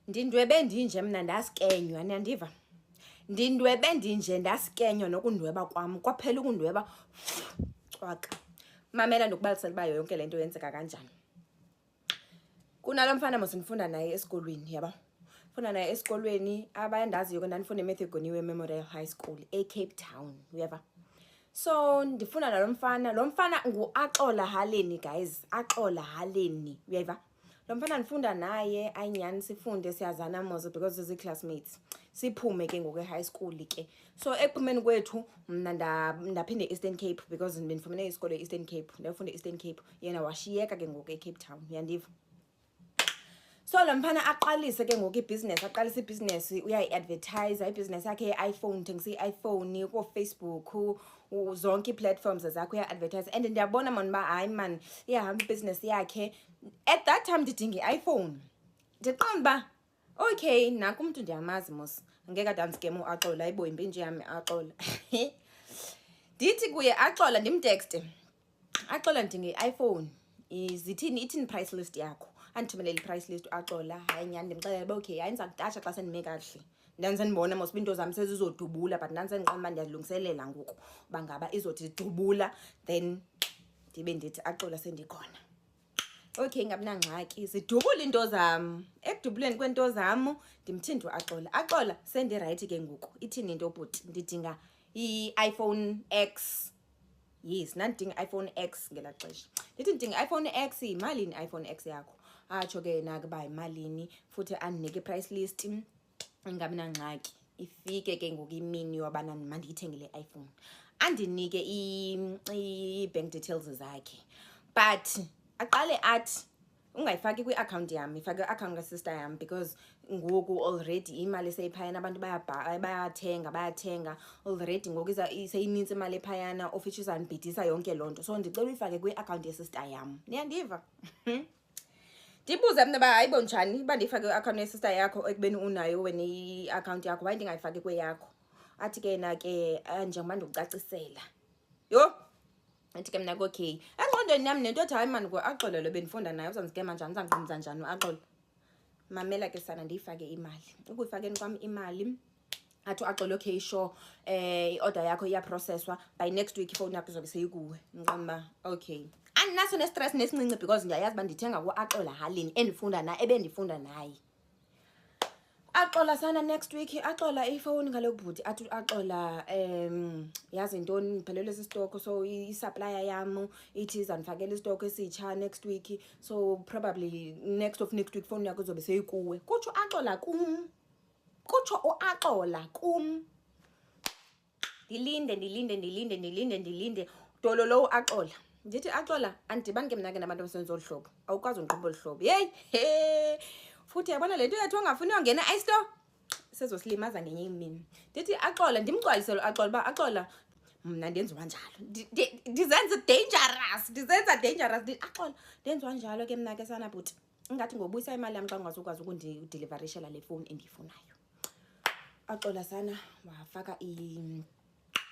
ndindwebe ndinje mna ndasikenywa niyandiva ndindwebe ndinje ndasikenywa nokundweba kwam kwaphela ukundweba cwaka mamela ndokubalisela uba yonke le nto yenzeka kanjani kunalo mfana mosindifunda naye esikolweni yaba funda naye esikolweni abayandaziyo ke ndandifunda ematthew goniwe memorial high school ecape town uyeva so ndifuna nalo mfana lo mfana nguaxola haleni guys axola haleni uyeva lo mfana ndifunda naye ayinyani sifunde siyazana mozo because zii-classmates siphume ke ngoku e-high school ke so ekuphumeni kwethu mna ndaphinde e-eastern cape because bendifumene isikolo e-eastern cape ndayofunde e-eastern cape yena washiyeka ke ngoku ecape town yandiva so lo mfana aqalise ke ngoku ibhizinesi aqalise ibhizinesi uyayi-advertise ibhizinesi yakhe ye-iphone uthengisa i-iphone koofacebook zonke ii-platforms zakho uya-advertise and ndiyabona mani uba hayi mani iyahamba ibhizinesi yakhe at that time ndidinga i-iphone ndiqonda uba okay naku umntu ndiyamazi mos ngeke adansikem uaxola ayibo yimbi nje yami axola ndithi kuye axola ndimtekste axola ndinge iphone zithini ithini price list yakho andithumelele i-price list axola hayi nyhani ndimxelele uba okay hayi ndiza kudatsha xa sendime kakuhle ndandisendibona mos uba into zam sezizodubula but ndandisendiqona uba ndiyazilungiselela ngoku uba ngaba izothi dubula then ndibe ndithi axola sendikhona okay ngabinangxaki zidubula into zam ekudubuleni kweento zam ndimthindi uaxola axola sendirayithi ke ngoku ithini into bhuti ndidinga i-iphone x yes ndandidinga i-iphone x ngela xesha ndithi ndidinga i-iphone x yimalini i-iphone x yakho atsho ke nake uba yimalini futhi andinike i-price list ingabi nangxaki ifike ke ngoku imini yobana mandiyithengele i-iphone andinike i-bank details zakhe but aqale athi ungayifaki kwi-akhawunti yam ifake kwi-akhawunti kasister yam because ngoku already imali seyiphayana abantu bayathenga bayathenga already ngoku seyinintsi imali ephayana of which izandibhidisa yonke loo nto so ndicela uyifake kwi-akhawunti yesister yam niyandiva ndibuze mna uba hayi bonjani uba ndiyifake kwi-akhawunti yesister yakho ekubeni unayo wena i-akhawunti yakho waye ndingayifaki kweyakho athi ke yena ke eh, njengoba ndikucacisela yho ndithi ke mna kokey engqondweni yam nento othi hayi mani axolelo bendifunda naye uzandiskema njani uzandiqumza njani uaxolo mamela ke sana ndiyifake imali ukuyifakeni kwam imali athi uaxolo okay sure um eh, i-order yakho iyaprocesswa by next week ifowuni yakho izobe seyikuwe nqamba okay andinaso nestress nesincinci because ndiyayazi uba ndithenga kuaxola halini endifunda naye ebendifunda naye axola sana next week axola ifowuni ngalo bhuti athi axola um yazi ntoni ndiphelelwe sisitoko so isaplaya yam ithi zandifakela isitoko esitsha next week so probably next of next week fowuni yakho izobe seyikuwe kutsho axola kum kutsho uaxola kum ndilinde ndilinde ndilinde ndilinde ndilinde dolo lowo axola ndithi axola andidibani ke mna ke nabantu abasenza olu hlobo awukwazi undiqhuba olu hlobo yeyi he futhi yabona le nto yethu ongafuni uyongena istore sezosilimaza ngenye imini ndithi axola ndimgcwalise lo axola uba axola mna ndenziwa njalo ndizenza dangerous ndizenza dangerous axola ndenziwa njalo ke mna ke sanabhuti ingathi ngobuyisa imali yam xa ungazukwazi ukundidilivarishela le fowuni endiyifunayo axola sana wafaka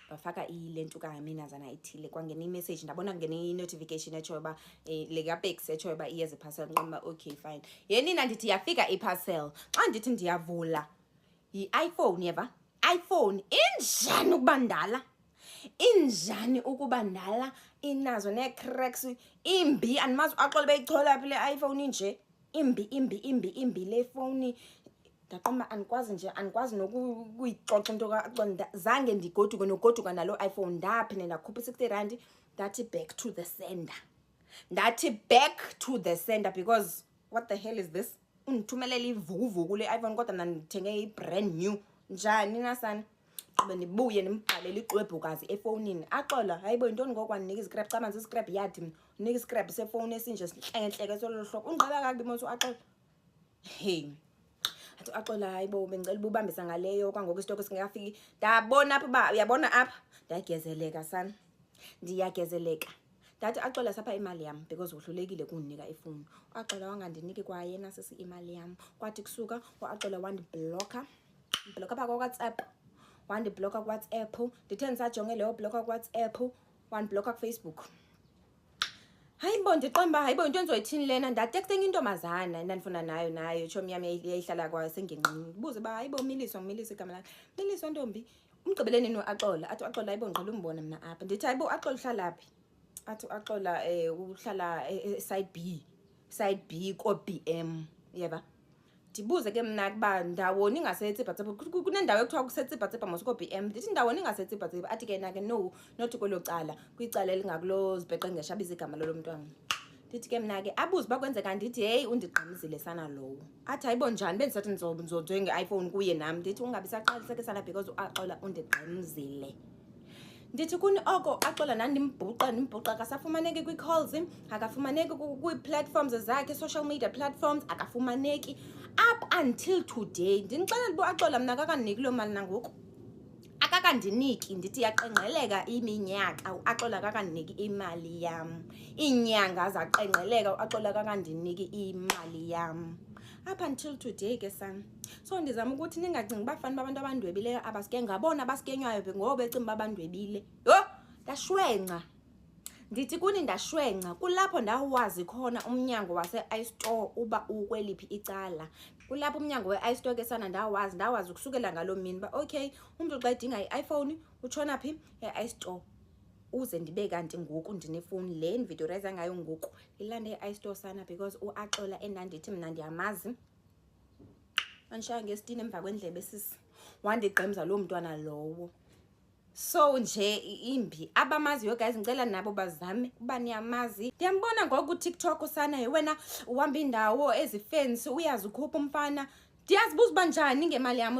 wafaka ile nto kaminazana ithile kwangena imessage ndabona kungena i-notification etshoyo uba eh, le kapex etshoyo uba iyeza iparcel nqoba okay fine yenina ndithi yafika iparcel xa ndithi ndiyavula yi-iphone yeva iPhone injani ukuba ndala injani ukuba ndala inazo nee-cracks imbi andimazi axole beyichola phi le iPhone inje imbi imbi imbi imbi le fowuni ndaqoma andikwazi nje andikwazi nokuyixoxa into kaconda zange ndigoduke nogoduka naloo iphone ndaphinde ndakhupha i-sixty rand ndathi back to the sender ndathi back to the sender because what the hell is this undithumelele ivukuvuku le-iphone kodwa mna ndithenge i-brand new njani nasani qube ndibuye ndimbhalele ixwebhukazi efowunini axola hayibo yintoni ngoko andinika izikrebhu xa manzi isikrebhu yathi mna unika isikrebhu sefowuni esinje sintlengentleke sololo hlobo ungqaba kakubi monso axola hey athi axola hayibo bendicela uba ubambisa ngaleyo kwangoko isitoko singekafiki ndabona apha uba uyabona apha ndiyagezeleka sana ndiyagezeleka ndati axola sapha imali yam because wohlulekile kundinika ifowuni uaxola wangandiniki kwayena sisi imali yam kwathi kusuka uaxola wandibhlokha ndibhlokha pha kwawhatsapp wandibhlokha kuwhatsapp ndithe ndisajonge leyo bhlokha kuwhatsapp wandibhlokha kufacebook hayi bo ndiqonda uba hayi bo into endizoyithini lena ndatektenga intombazana endandifuna nayo nayo tshomi yam yayihlala kwayo sengenqini ndibuze uba hayi bo miliswa ngumilisa igama lakhe miliswa ntombi umgqibele nini uaxola athi uaxola ayibo ngiqala umbona mna apha ndithi ayibo uaxola uhlala phi athi uaxola um eh, uhlala eh, eh, side b side b ko-b m yeba ndibuze ke mna kuba ndawoni ingasetsipatsipa kunendawo ekuthiwa kusetsipatsipa mos ko-b m ndithi ndawoni ingasetsipatsipa athi ke nake no not kwelo cala kwicala elingakulo zibheqengesha abize igama lolo mntwana ndithi ke mna ke abuze uba kwenzeka ndithi heyi undigqamzile sana lowo athi hayibo njani bendisathi ndizonzonzwe nge-iphone kuye nam ndithi ungabi saqaliseke sana because uaxola undigqamzile ndithi kuni oko axola nandimbhuqa ndimbhuqa akasafumaneki kwii-calls akafumaneki kwii-platforms zakhe social media platforms akafumaneki up until today ndinixelela uba axola mna kakandiniki loo mali nangoku akakandiniki ndithi yaqengqeleka iminyaka uaxola akakandiniki imali yam iinyanga zaqengqeleka uaxola akakandiniki imali yam up until today ke sam so ndizama ukuthi ningacingi uba fani babantu abandwebileyo abasike ngabona abasikenywayo ngoba becinga uba bandwebile yho ndashwenca Ndithi kuni ndashwenca kulapho ndawazi khona umnyango wase-istore uba ukweliphi icala kulapho umnyango we-istore ke sana ndawazi ndawazi ukusukela ngaloo mini uba okay umntu xa edinga i-iphone utshona phi e-istore uze ndibe kanti ngoku ndinefowuni le ndividiyorayza ngayo ngoku ndilande i-istore sana because uaxola endandithi mna ndiyamazi andishaya ngesitini emva kwendlebe sisi wandigqemza loo mntwana lowo so nje imbi abamaziyo guys ngicela nabo bazame uba niyamazi ndiyambona ngoku kutiktok usana ye wena uhamba indawo ezifensi uyazi ukhupha umfana ndiyazibuza uba njani ngemali yam